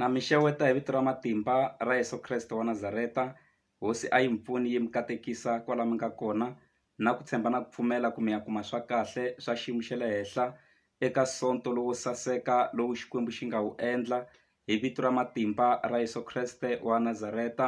Na mi xeweta hi vito ra matimba ra Yeso Kreste wa Nazareta hosi a yi mi pfuni yi mi katekisa kwala mi nga kona na ku tshemba na ku pfumela ku mi ya kuma swa kahle swa xiyimo xa le henhla eka sonto lowo saseka lowu Xikwembu xi nga wu endla hi vito ra matimba ra Yeso Kreste wa Nazareta.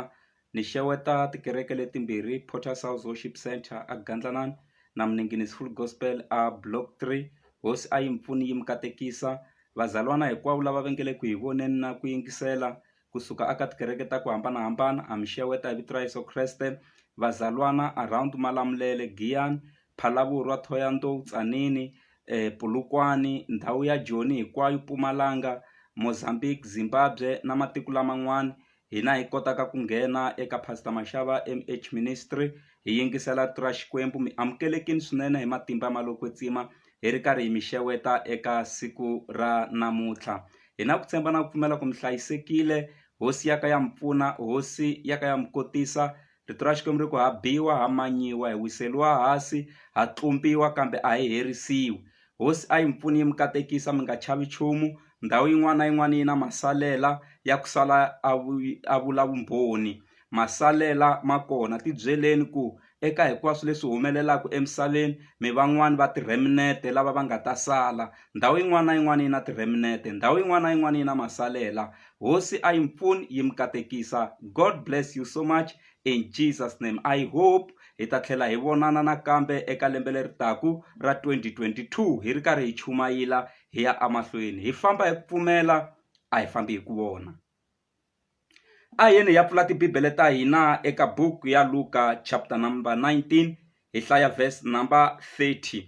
Ni xeweta tikereke letimbirhi Potter's Worship Centre a Gandlanan na Mninginis Full Gospel a Block Three hosi a yi mi pfuni yi mi katekisa vazalwana hinkwavo lava va nga le ku hi voneni na ku yingisela kusuka aka tikereke ta ku hambanahambana a mi xeweta hi vito ra Yeso Kreste vazalwana around Malamulele Giyani Phalaborwa Thohoyandou Tzaneen Polokwane ndhawu ya Joni hinkwayo Mpumalanga Mozambique Zimbabwe na matiko laman'wana hina hi kotaka ku nghena eka Pastor Mashava MH Ministry hi yingisela rito ra Xikwembu mi amukelekini swinene hi matimba ma lo kwetsima hi ri karhi hi mi xeweta eka siku ra namuntlha hi na ku tshemba na ku pfumela ku mi hlayisekile hosi ya ka ya mi pfuna hosi ya ka ya mi kotisa Rito ra Xikwembu ri ku ha biwa ha manyiwa hi wiseliwa hasi ha tlumpiwa kambe a hi herisiwi hosi a yi mi pfuni yi mi katekisa mi nga chavi nchumu ndhawu yin'wana na yin'wana yi na masalela ya ku sala a a vula vumbhoni masalela ma kona ti byeleni ku eka hinkwaswo leswi humelelaka emisaveni mi van'wani va tireminete lava va nga ta sala ndhawu yin'wana na yin'wana yi na tireminete ndhawu yin'wana na yin'wana yi na masalela hosi a yi mi pfuni yi mi katekisa God bless you so much in Jesus name I hope hi ta tlhela hi vonana nakambe eka lembe leri taku ra 2022 hi ri karhi hi chumayila hi ya emahlweni hi famba hi ku pfumela a hi fambi hi ku vona a yeni hi ya pfula tibibele ta hina eka buku ya Luka chapter number 19 Hi hlaya verse number 30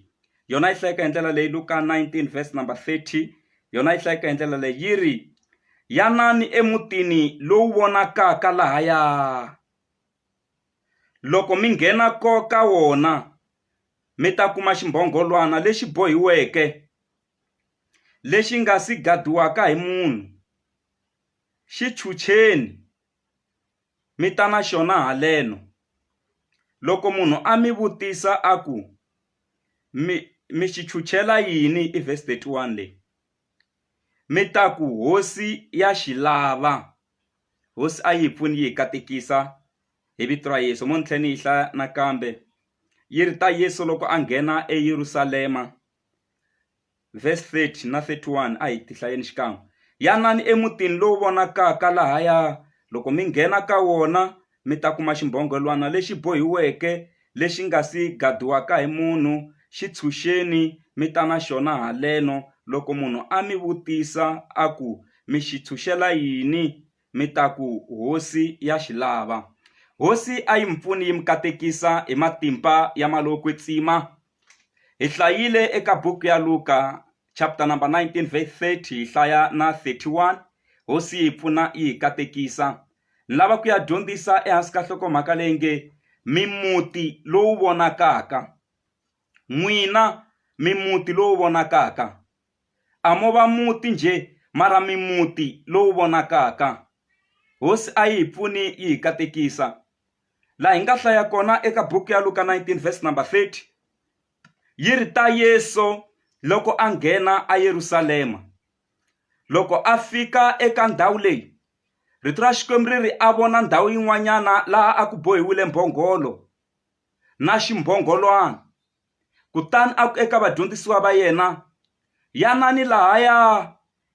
yona yi hlayeka hi ndlela leyi Luka 19 verse number 30 yona yi hlayeka hi ndlela leyi yi ri yanani emutini lowu vonakaka lahaya loko mi nghena ko ka wona mi ta kuma ximbhongolwana lexi bohiweke lexi nga si gadiwaka hi munhu xi chucheni mi ta na xona haleno. Loko munhu a mi vutisa a ku mi mi xi chuchela yini i verse thirty one leyi mi ta ku hosi ya xi lava hosi a yi hi pfuni yi hi katekisa hi vito ra Yeso mo ni tlhela ni yi hlaya nakambe yi ri ta Yeso loko a nghena eYerusalema. Vhesi 30 na 31 a hi ti hlayeni xikan'we. Yanani emutini lowu vonakaka lahaya, loko mi nghena ka wona, mi ta kuma ximbhongelwana lexi bohiweke lexi nga si gadiwaka hi munhu, xi tshunxeni mi ta na xona haleno. Loko munhu a mi vutisa a ku, Mi xi tshunxela yini? mi ta ku, Hosi ya xi lava. Hosi a yi mi pfuni yi mi katekisa hi matimba ya malovokwetsima, Hi hlayile eka buku ya Luka chapter number 19 verse 30 hi hlaya na 31 hosi yi hi pfuna yi hi katekisa ni lava ku ya dyondzisa ehansi ka nhlokomhaka leyi nge mimuti lowu vonakaka n'wina mimuti lowu vonakaka a mo va muti njhe mara mimuti lowu vonakaka hosi a yi hi pfuni yi hi katekisa laha hi nga hlaya kona eka buku ya Luka 19 verse number 30 yi ri ta Yesu loko a nghena a Yerusalema loko a fika eka ndhawu leyi rito ra Xikwembu ri ri a vona ndhawu yin'wanyana laha a ku bohiwile mbhongolo na ximbhongolwana Kutani a ku eka vadyondzisiwa va yena, Yanani lahaya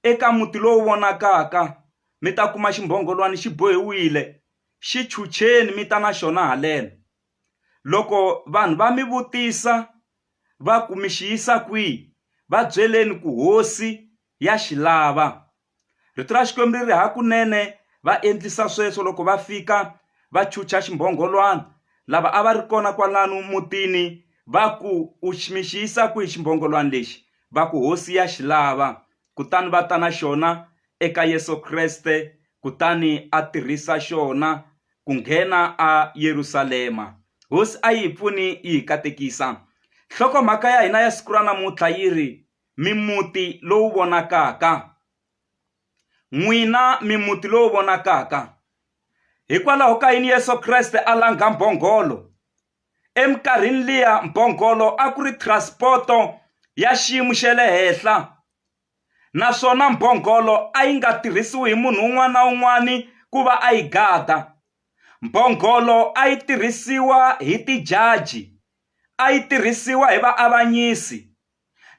eka muti lowu vonakaka, mi ta kuma ximbhongolwana xi bohiwile, xi chucheni mi ta na xona haleno. Loko vanhu va mi vutisa va ku mi xi yisa kwihi, va byeleni ku Hosi ya xi lava. Rito ra Xikwembu ri ri hakunene va endlisa sweswo loko va fika va chucha ximbhongolwana. Lava a va ri kona kwalano mutini va ku, U mi xi yisa kwihi ximbhongolwana lexi? Va ku, Hosi ya xi lava. Kutani va ta na xona eka Yesu Kreste kutani a tirhisa xona ku nghena eYerusalema. Hosi a yi hi pfuni yi hi katekisa. Nhlokomhaka ya hina ya siku ra namuntlha yi ri, Mimuti lowu vonakaka. N'wina mimuti lowu vonakaka, hikwalaho ka yini Yesu Kreste a langha mbhongolo? Eminkarhini liya mbhongolo a ku ri transporto ya xiyimo xa le henhla naswona mbhongolo a yi nga tirhisiwi hi munhu un'wana na un'wana ku va a yi gada mbhongolo a yi tirhisiwa hi tijaji a yi tirhisiwa hi vaavanyisi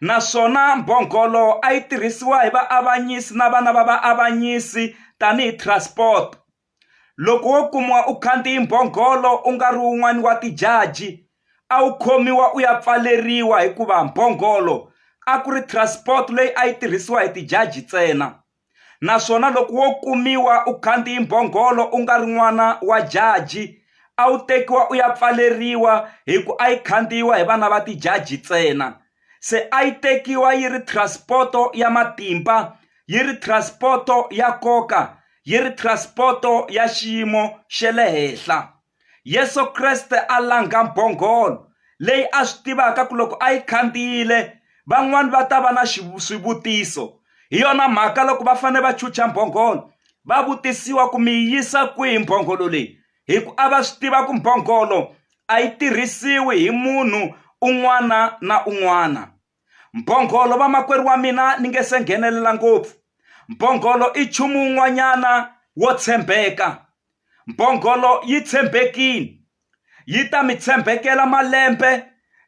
naswona mbhongolo a yi tirhisiwa hi vaavanyisi na vana va vaavanyisi tanihi transport. Loko wo kumiwa u khandziye mbhongolo u nga ri wun'wana wa tijaji, a wu khomiwa u ya pfaleriwa hikuva mbhongolo a ku ri transport leyi a yi tirhisiwa hi tijaji ntsena. naswona loko wo kumiwa u khandziyi mbhongolo u nga ri n'wana wa jaji a wu tekiwa u ya pfaleriwa hi ku a yi khandziyiwa hi vana va tijaji ntsena se a yi tekiwa yi ri transport-o ya matimba yi ri transport-o ya nkoka yi ri transport-o ya xiyimo xa le henhla Yesu Kreste a langha mbhongolo leyi a swi tivaka ku loko a yi khandziyile van'wani va ta va na swivutiso hi yona mhaka loko va fanele va chucha mbhongolo va vutisiwa ku mi yisa kwihi mbhongolo leyi hi ku a va swi tiva ku mbhongolo a yi tirhisiwi hi munhu un'wana na un'wana. Mbhongolo vamakwerhu wa mina ni nge se nghenelela ngopfu. Mbhongolo i nchumu wun'wanyana wo tshembeka. Mbhongolo yi tshembekile. Yi ta mi tshembekela malembe,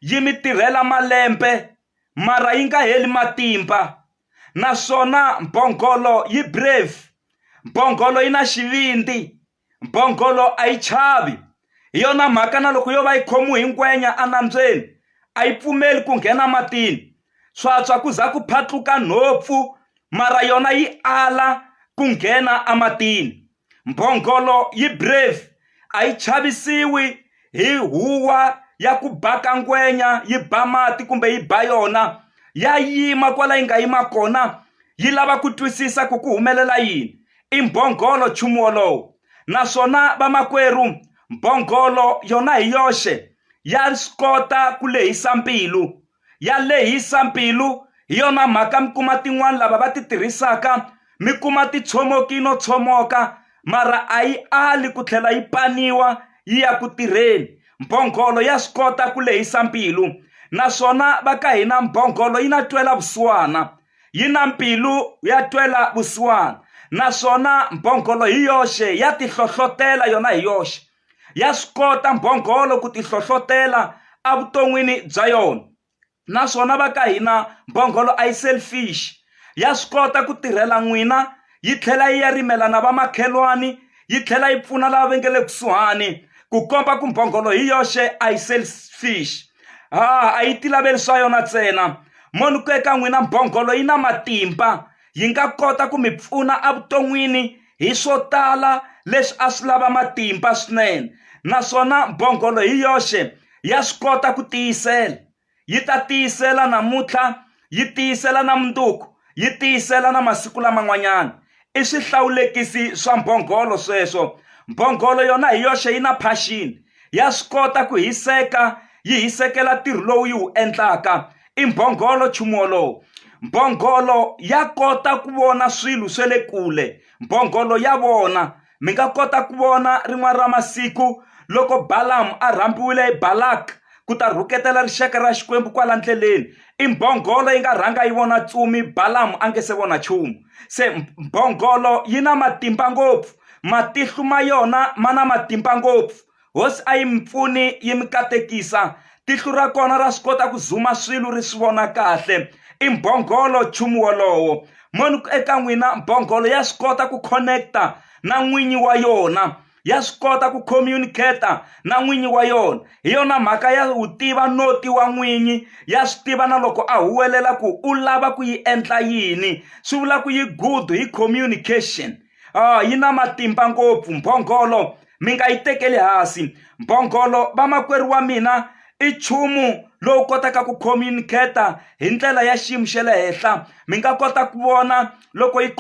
yi mi tirhela malembe, mara yi nga heli matimba. Naswona mbhongolo yi brave. Mbhongolo yi na xivindzi. Mbhongolo a yi chavi. Hi yona mhaka na loko yo va yi khomiwe hi ngwenya enambyeni, a yi pfumeli ku nghena matini. Swa tshwa ku za ku phatluka nhompfu, mara yona yi ala ku nghena ematini. Mbhongolo yi brave, a yi chavisiwi hi huwa ya ku ba ka ngwenya, yi ba mati kumbe yi ba yona. Ya yima kwala yi nga yima kona, yi lava ku twisisa ku ku humelela yini. i mbhongolo nchumu wolowo, naswona vamakwerhu, mbhongolo yona hi yoxe ya swi kota ku lehisa mbilu. Ya lehisa mbilu, hi yona mhaka mi kuma tin'wana lava va ti tirhisaka mi kuma ti tshomoki no tshomoka, mara a yi ali ku tlhela yi paniwa yi ya ku tirheni. Mbhongolo ya swi kota ku lehisa mbilu. Naswona va ka hina mbhongolo yi na twela vusiwana. yi na mbilu ya twela vusiwana naswona mbhongolo hi yoxe ya tihlohlotela yona hi yoxe ya swi kota mbhongolo ku tihlohlotela evuton'wini bya yona naswona va ka hina mbhongolo a yi selfish ya swi kota ku tirhela n'wina yi tlhela yi ya rimela na vamakhelwani yi tlhela yi pfuna lava va nge le kusuhani ku komba ku mbhongolo hi yoxe a yi selfish ha a yi tilaveli swa yona ntsena moni ku eka n'wina mbhongolo yi na matimba yi nga kota ku mi pfuna evuton'wini hi swo tala leswi a swi lava matimba swinene naswona mbhongolo hi yoxe ya swi kota ku tiyisela yi ta tiyisela namuntlha yi tiyisela na mundzuku yi tiyisela na masiku laman'wanyana i swihlawulekisi swa mbhongolo sweswo mbhongolo yona hi yoxe yi na passion ya swi kota ku hiseka yi hisekela ntirho lowu yi wu endlaka i mbhongolo nchumu wolowo mbhongolo ya kota ku vona swilo swa le kule mbhongolo ya vona Mi nga kota ku vona rin'wana ra masiku loko Balamu a rhambiwile hi Balaka ku ta rhuketela rixaka ra Xikwembu kwala ndleleni. I mbhongolo yi nga rhanga yi vona tsumi Balamu a nge se vona nchumu. Se mbhongolo yi na matimba ngopfu, matihlu ma yona ma na matimba ngopfu. Hosi a yi mi pfuni yi mi katekisa. Tihlo ra kona ra swi kota ku zuma swilo ri swi vona kahle. I mbhongolo nchumu wolowo. Moni ku eka n'wina, mbhongolo ya swi kota ku connect-a na n'winyi wa yona, ya swi kota ku communicate-a na n'winyi wa yona. Hi yona mhaka ya wu tiva noti wa n'winyi, ya swi tiva na loko a huwelela ku u lava ku yi endla yini. Swi vula ku yi good hi communication. Yi na matimba ngopfu mbhongolo. mi nga yi tekeli hansi mbhongolo vamakwerhu wa mina i nchumu lowu kotaka ku communicate-a hi ndlela ya xiyimo xa le henhla mi nga kota ku vona loko yi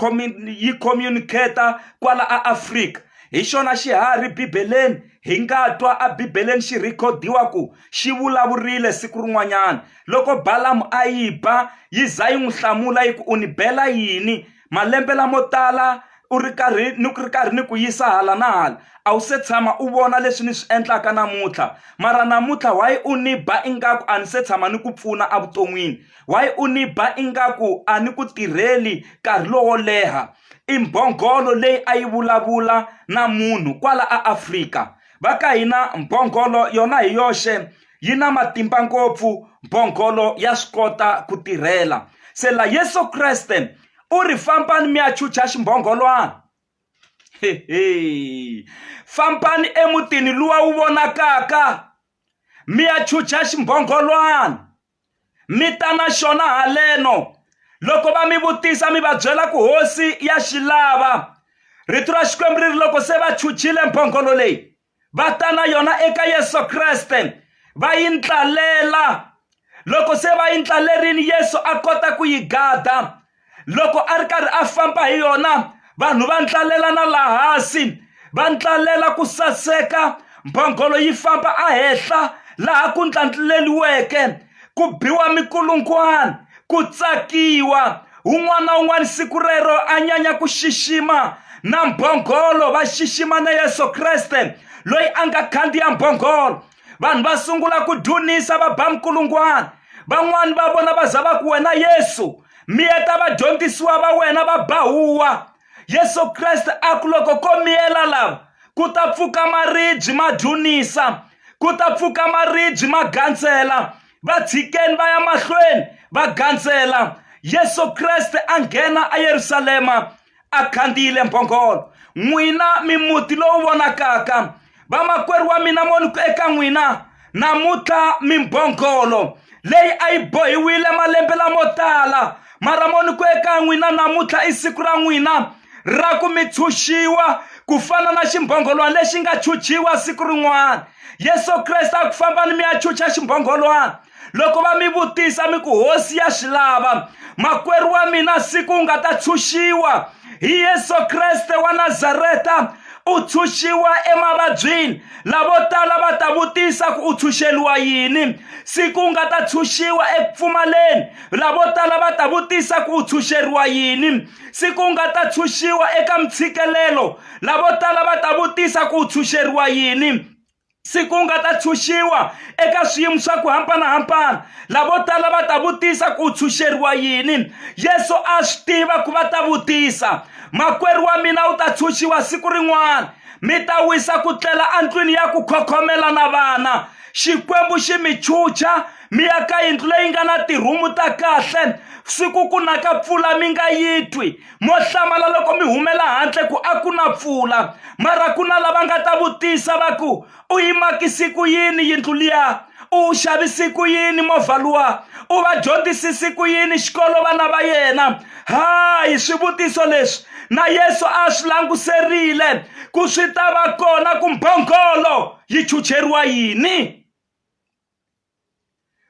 yi communicate-a kwala a Afrika hi xona xiharhi bibeleni hi nga twa a bibeleni xi rhikhodiwa ku xi vulavurile siku rin'wanyana loko balamu a yi ba yi za yi n'wi hlamula yi ku u ni bela yini Malembe lamo tala u ri karhi ni ku ri karhi ni ku yisa hala na hala a wu se tshama u vona leswi ni swi endlaka namuntlha mara namuntlha why u ni ba ingaku a ni se tshama ni ku pfuna evuton'wini why u ni ba ingaku a ni ku tirheli nkarhi lowo leha i mbhongolo leyi a yi vulavula na munhu kwala a Afrika va ka hina mbhongolo yona hi yoxe yi na matimba ngopfu mbhongolo ya swi kota ku tirhela se la yesu kreste u ri fambani mi ya chucha ximbhongolwana hehe fambani emutini luwa wu vonakaka mi ya chucha ximbhongolwana mi ta na xona haleno loko va mi vutisa mi va byela ku hosi ya xi lava rito ra xikwembu ri ri loko se va chuchile mbhongolo leyi va ta na yona eka yesu kreste va yi ndlalela loko se va yi ndlalerini yesu a kota ku yi gada loko a ri karhi a famba hi yona vanhu va ndlalela na laha hansi va ndlalela ku saseka mbhongolo yi famba a henhla laha ku ndlandluleliweke ku biwa mikulungwana ku tsakiwa un'wana na un'wana siku rero a nyanya ku xixima na mbhongolo va xixima na yesu kreste loyi a nga khandziya mbhongolo vanhu va sungula ku dunisa va ba mikulungwana van'wani va vona va za va ku wena yesu miyeta vadyondzisiwa va wena va ba huwa yesu kreste a ku loko ko miyela lava ku ta pfuka maribyi ma dlunisa ku ta pfuka maribyi ma gandzela va tshikeni va ya mahlweni va gandzela yesu kreste a nghena eyerusalema a khandziyile mbhongolo n'wina mimuti lowu vonakaka vamakwerhu wa mina moniko eka n'wina namuntlha mimbhongolo leyi a yi bohiwile malembe lamo tala mara moniko eka n'wina namuntlha i siku ra n'wina ra ku mi tshunxiwa ku fana na ximbhongolwana lexi nga chuchiwa siku rin'wana yesu kreste a ku fambani mi ya chucha ximbhongolwana loko va mi vutisa mi ku hosi ya swi lava makwerhu wa mina siku u nga ta tshunxiwa hi yesu kreste wa nazareta u tshunxiwa emavabyini lavo tala va ta vutisa ku u tshunxeliwa yini siku u nga ta tshunxiwa eku pfumaleni lavo tala va ta vutisa ku u tshunxeriwa yini siku u nga ta tshunxiwa eka mitshikelelo lavo tala va ta vutisa ku u tshunxeriwa yini siku u nga ta tshunxiwa eka swiyimo swa ku hambanahambana lavo tala va ta vutisa ku u tshunxeriwa yini yesu a swi tiva ku va ta vutisa makwerhu wa mina u ta tshunxiwa siku rin'wana mi ta wisa ku tlela endlwini ya ku khokhomela na vana xikwembu xi mi chucha mi ya ka yindlu leyi nga na tirhumu ta kahle swi ku ku na ka pfula mi nga yi twi mo hlamala loko mi humela handle ku a ku na pfula mara ku na lava nga ta vutisa va ku u yimakisi ku yini yindlu liya u xavisi ku yini movha luwa u va dyondzisisi ku yini xikolo vana va yena hayi swivutiso leswi na yesu a swi languserile ku swi ta va kona ku mbhongolo yi chucheriwa yini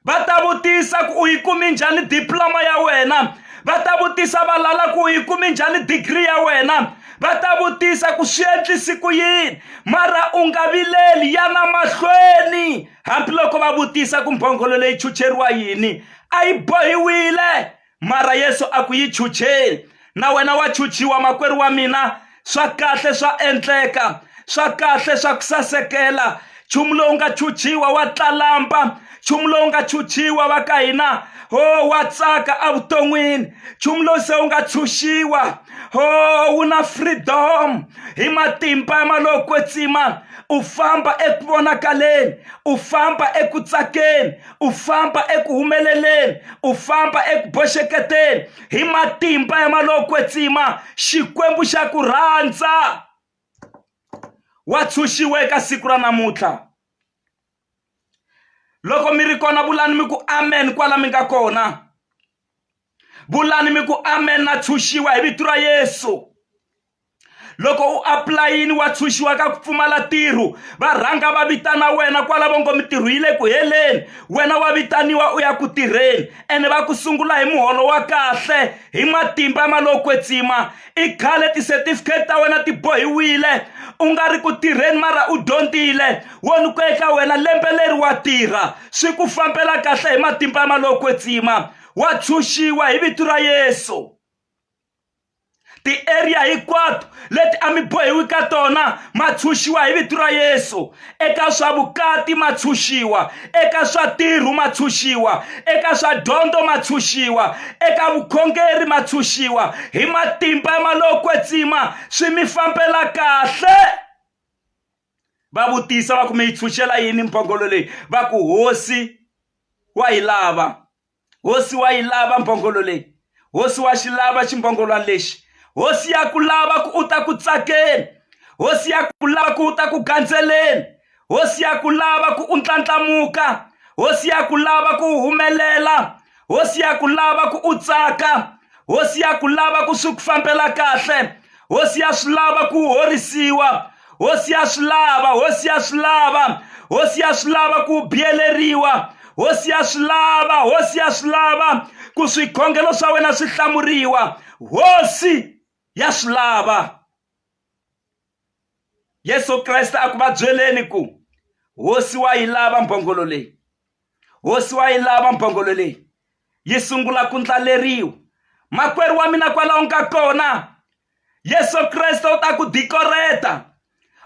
va ta vutisa ku u yi kumi njhani diploma ya wena va ta vutisa valala ku u yi kumi njhani digiri ya wena va ta vutisa ku swi endlisi ku yini mara u nga vileli ya na mahlweni hambiloko va vutisa ku mbhongolo leyi chucheriwa yini a yi bohiwile mara yesu a ku yi chucheni na wena wa chuchiwa makwerhu wa mina swa kahle swa endleka swa kahle swa ku sasekela nchumu lowu nga chuchiwa wa tlalamba nchumu lowu nga chuchiwa va ka hina ho oh, wa tsaka evuton'wini nchumu lowu se wu nga tshunxiwa ho oh, wu na freedom hi matimba ya malokwetsima u famba eku vonakaleni u famba eku tsakeni u famba eku humeleleni u famba eku boxeketeni hi matimba ya malokwetsima xikwembu xa ku rhandza wa tshunxiwa eka siku ra namuntlha loko mi ri kona vulani mi ku amen kwala mi nga kona vulani mi ku amen na tshunxiwa hi vito ra yesu loko u apulayini wa tshunxiwa ka ku pfumala ntirho va rhanga va vitana wena kwalavo ngo mintirho yi le ku heleni wena wa vitaniwa u ya ku tirheni ene va ku sungula hi muholo wa kahle hi matimba ma lo kwetsima i khale ti-certificate ta wena ti bohiwile u nga ri ku tirheni mara u dyondzile wo ni ku eka wena lembe leri wa tirha swi ku fambela kahle hi matimba ma lo kwetsima wa tshunxiwa hi vito ra yesu ti-area hinkwato leti a mi bohiwi ka tona ma tshunxiwa hi vito ra yesu eka swa vukati ma tshunxiwa eka swa tirhu ma tshunxiwa eka swa dyondzo ma tshunxiwa eka vukhongeri ma tshunxiwa hi matimba ya malokwetsima swi mi fambela kahle va vutisa va ku mi yi tshunxela yini mbhongolo leyi va ku hosi wa yi lava hosi wa yi lava mbhongolo leyi hosi wa xi lava ximbhongolwana lexi hosi ya ku lava ku u ta ku tsakeni hosi ya ku lava ku u ta ku gandzeleni hosi ya ku lava ku u ndlandlamuka hosi ya ku lava ku humelela hosi ya ku lava ku u tsaka hosi ya ku lava ku swi ku fambela kahle hosi ya swi lava ku horisiwa hosi ya swi lava hosi ya swi lava hosi ya swi lava ku biyeleriwa hosi ya swi lava hosi ya swi lava ku swikhongelo swa wena swi hlamuriwa hosi ya swi lava yesu kreste a ku va byeleni ku hosi wa yi lava mbhongolo leyi hosi wa yi lava mbhongolo leyi yi sungula ku ndlaleriwa makwerhu wa mina kwalaho nga kona yesu kreste u ta ku dikoreta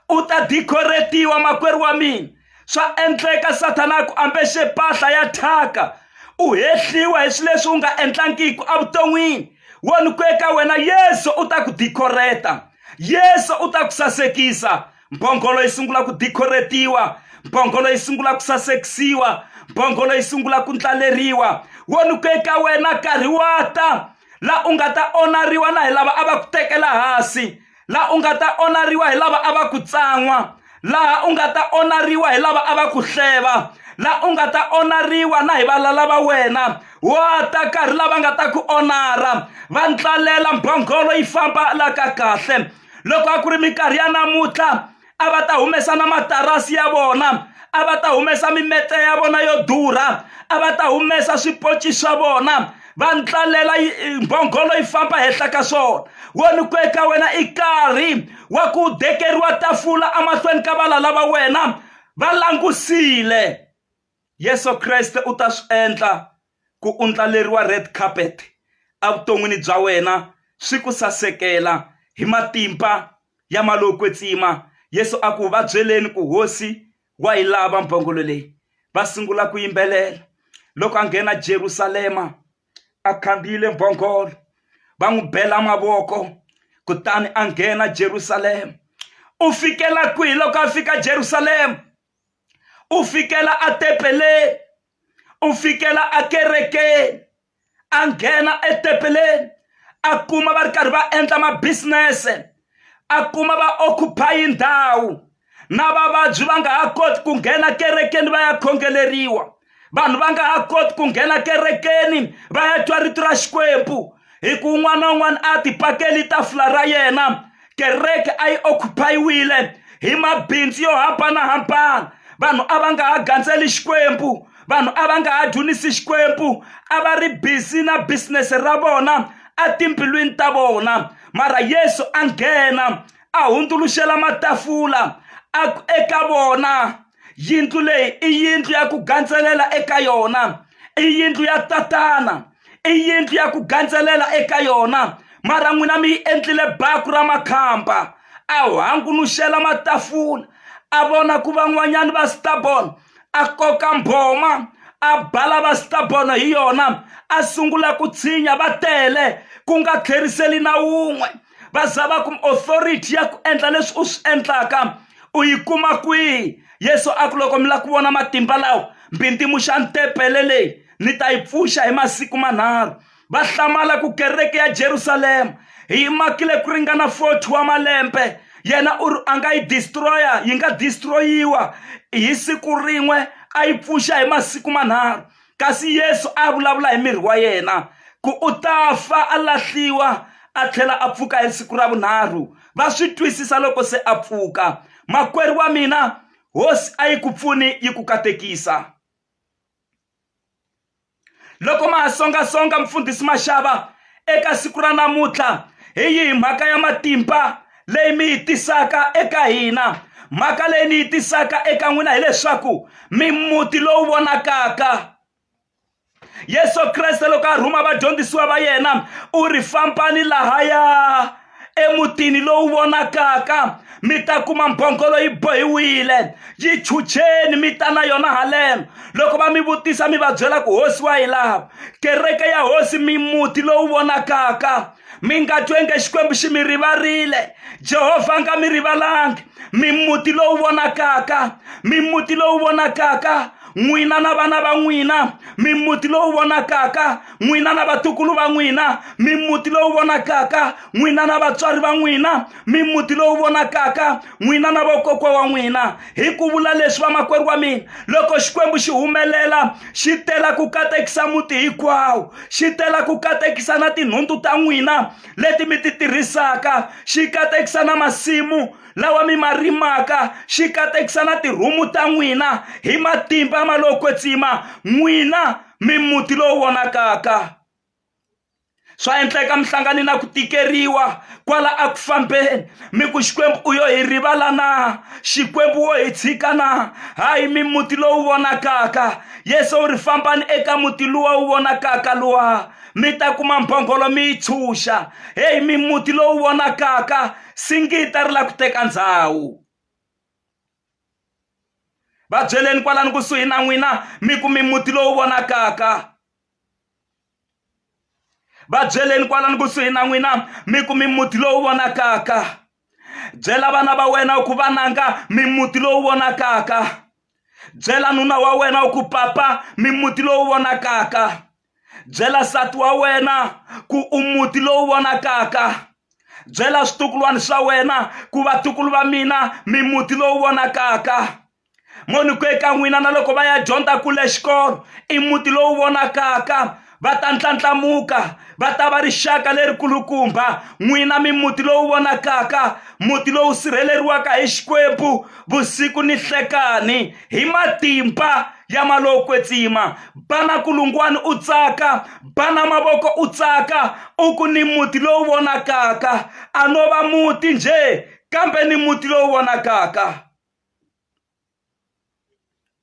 u ta dikoretiwa makwerhu wa mina swa endleka sathana ku ambexe mpahla ya thyaka u hehliwa hi swilo leswi u nga endlangiki evuton'wini wo ni ku eka wena yesu u ta ku dikhoreta yesu u ta ku sasekisa mbhongolo yi sungula ku dikhoretiwa mbhongolo yi sungula ku sasekisiwa mbhongolo yi sungula ku ndlaleriwa wo ni ku eka wena nkarhi wa ta laha u nga ta onariwa na hi lava a va ku tekela hansi laha u nga ta onariwa hi lava a va ku tsan'wa laha u nga ta onariwa hi lava a va ku hleva laha u nga ta onariwa na hi valala va wena wa ta karhi lava nga ta ku onara va ntlalela mbhongolo yi famba la ka kahle loko a ku ri minkarhi ya namuntlha a va ta humesa na matarasi ya vona a va ta humesa mimete ya vona yo durha a va ta humesa swipoci swa vona va ndlalela mbhongolo yi famba henhla ka swona wo ni ku eka wena i karhi wa ku dekeriwa tafula emahlweni ka valala va wena va langusile Yesu Kreste u ta swi endla ku u ndlaleriwa red carpet evuton'wini bya wena swi ku sasekela hi matimba ya malokwetsima Yesu a ku va byeleni ku hosi wa yi lava mbhongolo leyi va sungula ku yimbelela loko a nghena Jerusalema a khandziyile mbhongolo va n'wi bela mavoko kutani a nghena Jerusalema u fikela kwihi loko a fika Jerusalema. u fikela a tepeleni u fikela a kerekeni a nghena etepeleni a kuma va ri karhi va endla mabisinese a kuma va occupy ndhawu na vavabyi va nga ha koti ku nghena kerekeni va ya khongeleriwa vanhu va nga ha koti ku nghena kerekeni va ya twa rito ra xikwembu hi ku un'wana na un'wana a tipakeli tafula ra yena kereke a yi okhupayiwile hi mabindzu yo hambanahambana vanhu a va nga ha gandzeli xikwembu vanhu a va nga ha dyunisi xikwembu a va ri busy na business ra vona etimbilwini ta vona mara yesu a nghena a hundzuluxela matafula eka vona yindlu leyi i yindlu ya ku gandzelela eka yona i yindlu ya tatana i yindlu ya ku gandzelela eka yona mara n'wina mi yi endlile baku ra makhamba a hangunuxela matafula a vona ku van'wanyana va stabon a koka mbhoma a bala va stabon hi yona a sungula ku tshinya va tele ku nga tlheriseli na wun'we va za va kuma authority ya ku endla leswi u swi endlaka u yi kuma kwihi yesu a ku loko mi lava ku vona matimba lawa mbindzimuxa ntepele leyi ni ta yi pfuxa hi masiku manharhu va hlamala ku kereke ya jerusalema hi yi makile ku ringana 40 wa malembe yena u ri a nga yi destroya yi nga destroyiwa hi siku rin'we a yi pfuxa hi masiku manharhu kasi yesu a vulavula hi miri wa yena ku u ta fa a lahliwa a tlhela a pfuka hi siku ra vunharhu va swi twisisa loko se a pfuka makwerhu wa mina hosi a yi ku pfuni yi ku katekisa loko ma ha songasonga mfundhisi maxava eka siku ra namuntlha hi yihi mhaka ya matimba leyi mi yi tisaka eka hina mhaka leyi ni yi tisaka eka n'wina hileswaku mi muti lowu vonakaka yesu kreste loko a rhuma vadyondzisiwa va yena u ri fambani lahaya emutini lowu vonakaka mi ta kuma mbhongolo yi bohiwile yi chucheni mi ta na yona haleno loko va mi vutisa mi va byela ku hosi wa yi lava kereke ya hosi mi muti lowu vonakaka mi nga twenge xikwembu xi mi rivarile jehovha a nga mi rivalangi mi muti lowu vonakaka mi muti lowu vonakaka n'wina na vana va n'wina mimuti lowu vonakaka n'wina na vatukulu va n'wina mimuti lowu vonakaka n'wina na vatswari va n'wina mimuti lowu vonakaka n'wina na vokokwa wa n'wina hi ku vula leswi vamakwerhu wa mina loko xikwembu xi humelela xi tela ku katekisa muti hinkwawo xi tela ku katekisa na tinhundzu ta n'wina leti mi ti tirhisaka xi katekisa na masimu lawa mi ma rimaka xi katekisa na tirhumu ta n'wina hi matimba ma lowo kwetsima n'wina mimuti lowu vonakaka swa endleka mi hlangane na ku tikeriwa kwala a ku fambeni mi ku xikwembu u yo hi rivala na xikwembu wo hi tshika na hayi mimuti lowu vonakaka yesu u ri fambani eka muti luwa wu vonakaka luwa mi ta kuma mbhongolo mi yi tshunxa heyi mimuti lowu vonakaka singita ri la ku teka ndhawu va byeleni kwalani kusuhi na n'wina mi kumi muti lowu vonakaka va byeleni kwalani kusuhi na n'wina mi kumi muti lowu vonakaka byela vana va wena u ku vananga mi muti lowu vonakaka byela nuna wa wena u ku papa mi muti lowu vonakaka byela nsati wa wena ku u muti lowu vonakaka byela switukulwana swa wena ku vatukulu va mina mi muti lowu vonakaka moniku eka n'wina na loko va ya dyondza kule xikolo i muti lowu vonakaka va ta ndlandlamuka va ta va rixaka lerikulukumba n'wina mi muti lowu vonakaka muti lowu sirheleriwaka hi xikwembu vusiku ni hlekani hi matimba ya malowo kwetsima bana kulungwani u tsaka bana mavoko u tsaka u ku ni muti lowu vonakaka a no va muti njhe kambe ni muti lowu vonakaka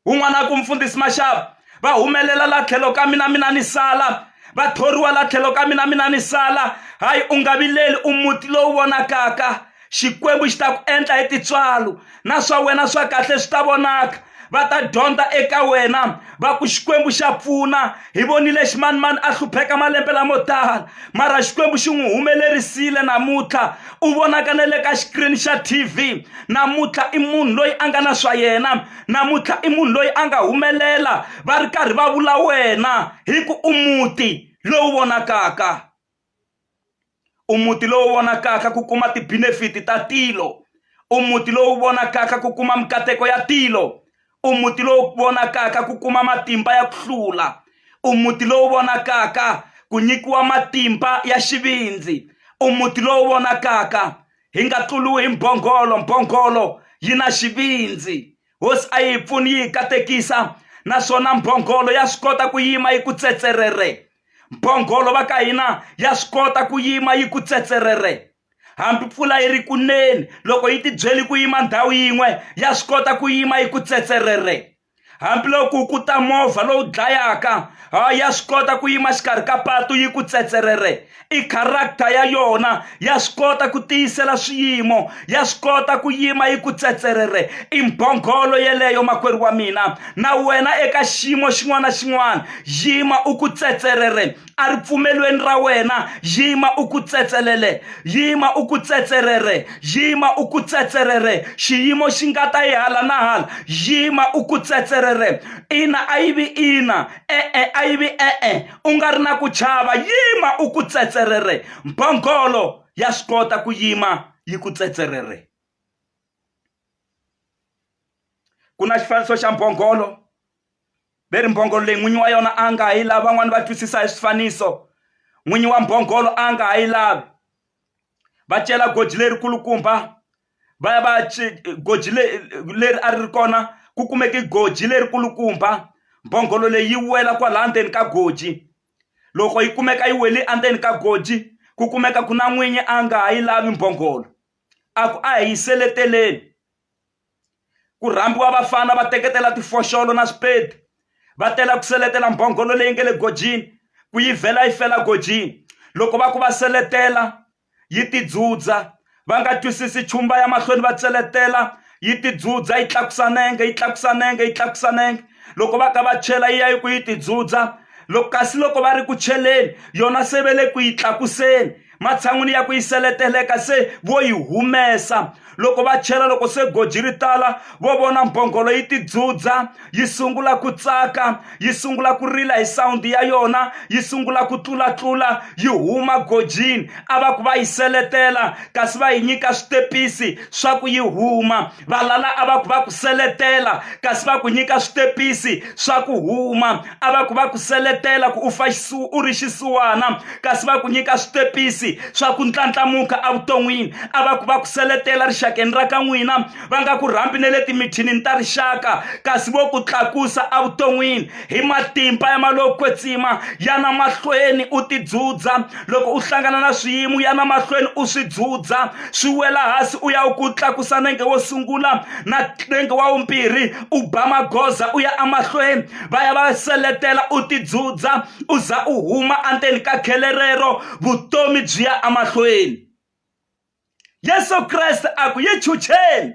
un'wana ku mfundhisi maxava va humelela la tlhelo ka mina mina ni sala va thoriwa la tlhelo ka mina mina ni sala hayi u nga vileli u muti lowu vonakaka xikwembu xi ta ku endla hi titswalo na swa wena swa kahle swi ta vonaka va ta dyondza eka wena va ku xikwembu xa pfuna hi vonile ximanimani a hlupheka malembe lamo tala mara xikwembu xi n'wi humelerisile namuntlha u vonaka na le ka xikirini xa tv namuntlha i munhu loyi a nga na swa yena namuntlha i munhu loyi a nga humelela va ri karhi va vula wena hi ku u muti lowu vonakaka u muti lowu vonakaka ku kuma tibinefiti ta tilo u muti lowu vonakaka ku kuma mikateko ya tilo u muti lowu vonakaka ku kuma matimba ya ku hlula u muti lowu vonakaka ku nyikiwa matimba ya xivindzi u muti lowu vonakaka hi nga tluriwi hi mbhongolo mbhongolo yi na xivindzi hosi a yi pfuni yi hi katekisa naswona mbhongolo ya swi kota ku yima yi ku tsetserere mbhongolo va ka hina ya swi kota ku yima yi ku tsetserere hambi mpfula yi ri kuneni loko yi tibyeli ku yima ndhawu yin'we ya swi kota ku yima yi ku tsetserere hambiloko ku ta movha lowu dlayaka ha ya swi kota ku yima xikarhi ka patu yi ku tsetserere i character ya yona ya swi kota ku tiyisela swiyimo ya swi kota ku yima yi ku tsetserere i mbhongolo yeleyo makwerhu wa mina na wena eka xiyimo xin'wana na xin'wana yima u ku tsetserere a ripfumelweni ra wena yima u ku tsetselele yima u ku tsetserere yima u ku tsetserere xiyimo xi nga ta yi hala na hala yima u ku tsetserere ina a yi vi ina e-e a yi vi e-e u nga ri na ku chava yima u ku tsetserere mbhongolo ya swi kota ku yima yi ku tsetserere ku na xifaniso xa mbhongolo ve ri mbhongolo leyi n'winyi wa yona a nga ha yi lavi van'wani va twisisa hi swifaniso n'winyi wa mbhongolo a nga ha yi lavi va cela goji leri kulukumba va ya va ya goji leri a ri ri kona ku kumeke goji leri kulukumba mbhongolo leyi wela kwalaha ndzeni ka goji loko yi kumeka yi weli endzeni ka goji ku kumeka ku na n'winyi a nga ha yi lavi mbhongolo a ku a hi seleteleni ku rhambiwa vafana va teketela tifoxolo na swipedi va tela ku seletela mbhongolo leyi nga le gojini ku yi vhela yi fela gojini loko va ku va seletela yi tidzudza va nga twisisi chumba ya mahlweni va tseletela yi tidzudza yi tlakusa nenge yi tlakusa nenge yi tlakusa nenge loko va ka va chela yi ya yi ku yi tidzudza loko kasi loko va ri ku cheleni yona se ve le ku yi tlakuseni matshan'wini ya ku yi seleteleka se vo yi humesa loko va chela loko se goji ri tala vo vona mbhongolo yi tidzudza yi sungula ku tsaka yi sungula ku rila hi sawundi ya yona yi sungula ku tlulatlula yi huma gojini a va ku va yi seletela kasi va yi nyika switepisi swa ku yi huma valala a va ku va ku seletela kasi va ku nyika switepisi swa ku huma a va ku va ku seletela ku u fa u ri xisiwana kasi va ku nyika switepisi swa ku ntlantlhamuka evuton'wini a va ku va ku seletela rixakeni ra ka n'wina va nga ku rhambi ne le timithinini ta rixaka kasi vo ku tlakusa evuton'wini hi matimba ya maloko kwetsima yana mahlweni u tidzudza loko u hlangana na swiyimo yana mahlweni u swi dzudza swi wela hansi u ya u ku tlakusa nenge wo sungula na nenge wa wumbirhi u ba magoza u ya emahlweni va ya va seletela u tidzudza u za u huma endzeni ka khele rero vutomi byi ya emahlweni yesu kreste a ku yi chucheni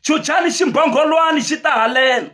chuchani ximbhongholwani xi ta halena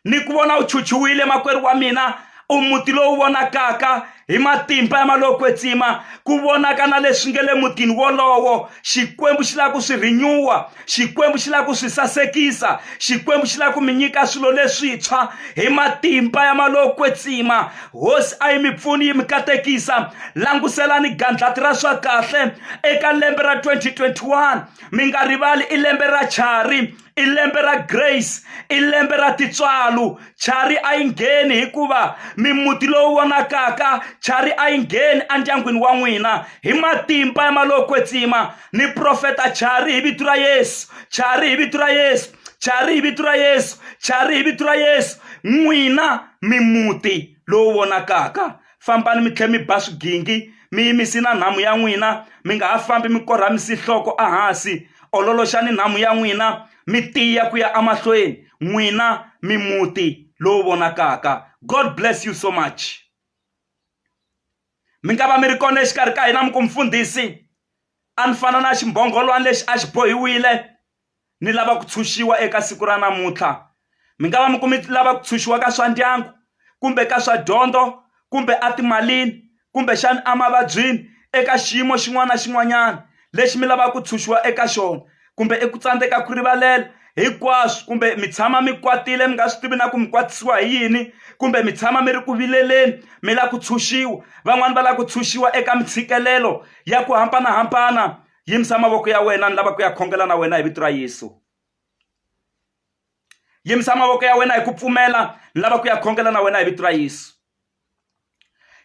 ni ku vona u chuchiwile makwerhu wa mina u muti lowu vonakaka hi matimba ya malokwetsima ku vonaka na leswi nge le mutini wolowo xikwembu xi lava ku swi rinyuwa xikwembu xi lava ku swi sasekisa xikwembu xi lava ku mi nyika swilo leswintshwa hi matimba ya malokwetsima hosi a yi mi pfuni yi mi katekisa languselani gandlati ra swa kahle eka lembe ra 2021 mi nga rivali i lembe ra chari i lembe ra grace i lembe ra tintswalo chari a yi ngheni hikuva mimuti lowu vonakaka chari a yi ngheni endyangwini wa n'wina hi matimba ya malowo kwetsima ni profeta chari hi vito ra yesu chari hi vito ra yesu chari hi vito ra yesu chari hi vito ra yesu n'wina mimuti lowu vonakaka fambani mi tlhela mi ba swigingi mi yimisi na nhamu ya n'wina mi nga ha fambi mi korhamisi nhloko ehansi ololoxani nhamu ya n'wina mi tiya ku ya emahlweni n'wina mi muti lowu vonakaka god bless you so much mi nga va mi ri kona exikarhi ka hina mi ku mfundhisi a ni fana na ximbhongolwana lexi a xi bohiwile ni lava ku tshunxiwa eka siku ra namuntlha mi nga va mi kumi lava ku tshunxiwa ka swa ndyangu kumbe ka swa dyondzo kumbe etimalini kumbexana emavabyini eka xiyimo xin'wana na xin'wanyana lexi mi lavaka ku tshunxiwa eka xona kumbe i ku tsandzeka ku rivalela hinkwaswo kumbe mi tshama mi kwatile mi nga swi tivi na ku mi kwatisiwa hi yini kumbe mi tshama mi ri ku vileleni mi lava ku tshunxiwa van'wani va lava ku tshunxiwa eka mintshikelelo ya ku hambanahambana yimisa mavoko ya wena ni lava ku ya khongela na wena hi vito ra yesu yimisa mavoko ya wena hi ku pfumela ni lava ku ya khongela na wena hi vito ra yesu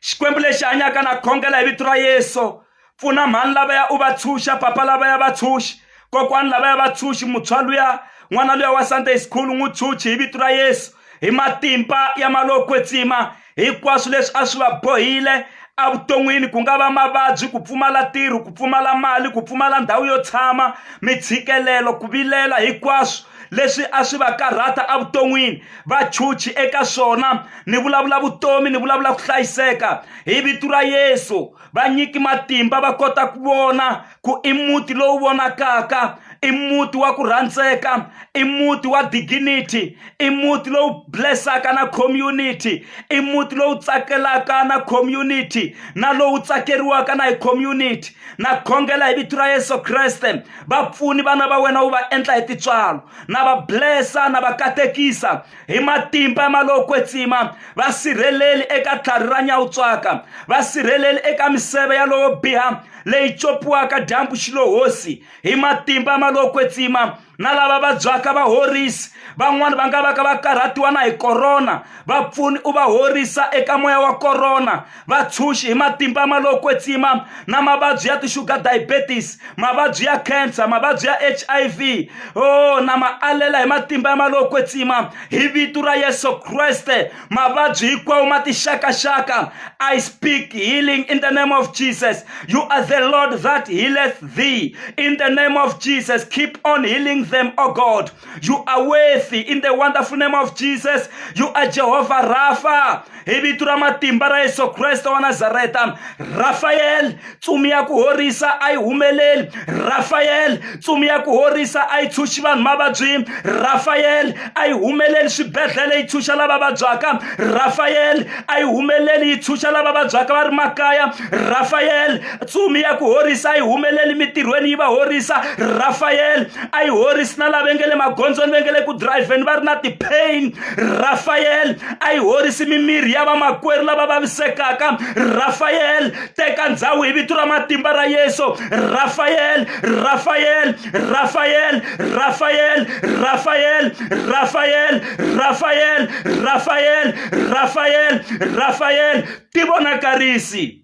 xikwembu lexi hanyaka na khongela hi vito ra yesu pfuna mhani lavaya u va tshunxa papa lavaya va tshunxi kokwani lavaya va tshunxi mutshwa luya n'wana luya wa sunday school n'wi tshunxi hi vito ra yesu hi matimba ya malokwetsima hinkwaswo leswi a swi va bohile evuton'wini ku nga va mavabyi ku pfumala tirho ku pfumala mali ku pfumala ndhawu yo tshama mitshikelelo ku vilela hinkwaswo leswi a swi va karhata evuton'wini va chuchi eka swona ni vulavula vutomi ni vulavula ku hlayiseka hi vito ra yesu va nyiki matimba va kota ku vona ku i muti lowu vonakaka i muti wa ku rhandzeka i muti wa dignity i muti lowu blessaka na community i muti lowu tsakelaka na community na lowu tsakeriwaka na hi community na khongela hi vito ra yesu kreste vapfuni vana va wena wu va endla hi titswalo na va blessa na va katekisa hi matimba ya malowo kwetsima va sirheleli eka tlhari ra nyawutswaka va sirheleli eka miseve ya lowo biha leyi copiwaka dyambu xilohosi hi matimba ya malowo kwetsima na lava vabyaka va horisi van'wani va nga va ka va karhatiwa na hi korona vapfuni u va horisa eka moya wa korona vatshunxi hi matimba ma lo kwetsima na mavabyi ya ti-sugar diabetes mavabyi ya cancer mavabyi ya hiv o oh, na ma alela hi matimba ya ma lo kwetsima hi vito ra yesu kreste mavabyi hinkwawo ma tixakaxaka i speak healing in the name of jesus you are the lord that healeth thee in the name of jesus keep on healing them o oh god you are worthy in the wonderful name of jesus you are jehovah rapha hi vito ra matimba ra yesu kreste wa nazareta rafayele tsumi ya ku horisa a yi humeleli rafayele tsumi ya ku horisa a yi tshunxi vanhu mavabyini rafayele a yi humeleli swibedhlele yi tshunxa lava vabyaka rafayele a yi humeleli yi tshunxa lava vabyaka va ri makaya rafayele tsumi ya ku horisa a yi humeleli mitirhweni yi va horisa rafayele a yi horisi na lava nge le magondzweni va nge le ku dirayivheni va ri na ti-pain rafayele a yi horisi mimiri ya vamakwerhu lava vavisekaka rafayele teka ndhawu hi vito ra matimba ra yesu rafayele rafayele rafayele rafayele rafayele rafayele rafayele rafayele rafayele rafayele ti vonakarisi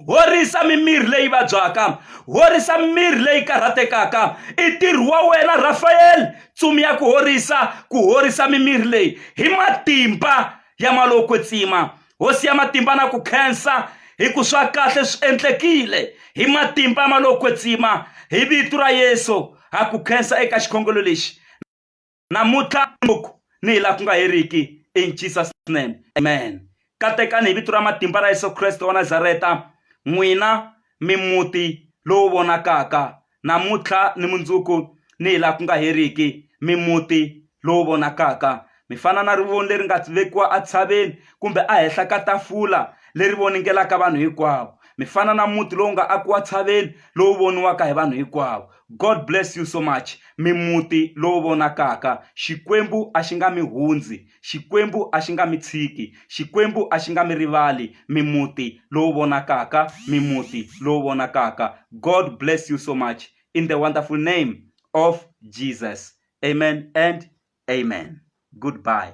horisa mimirhi leyi vabyaka horisa mimirhi leyi karhatekaka i ntirho wa wena rafayeli tsumi ya ku horisa ku horisa mimirhi leyi hi matimba ya maloko tsima hosi ya matimba na ku khensa hi ku swa kahle swi endlekile hi matimba ya maloko tsima hi vito ra yesu ha ku khensa eka xikhongelo lexi namuntlha ngopfu ni hi laha ku nga heriki in jesus name amen katekani hi vito ra matimba ra yesu kreste wa nazareta n'wina mimuti lowu vonakaka namuntlha ni mundzuku ni hi laha ku nga heriki mimuti lowu vonakaka mi fana na rivoni leri nga vekiwa entshaveni kumbe ehenhla ka tafula leri voningelaka vanhu hinkwavo mi fana na muti lowu nga akiwa tshaveni lowu voniwaka hi vanhu hinkwavo God bless you so much mi muti lowu vonakaka Xikwembu a xi nga mi hundzi Xikwembu a xi nga mi tshiki Xikwembu a xi nga mi rivali mi muti lowu vonakaka mi muti lowu vonakaka God bless you so much in the wonderful name of Jesus amen and amen goodbye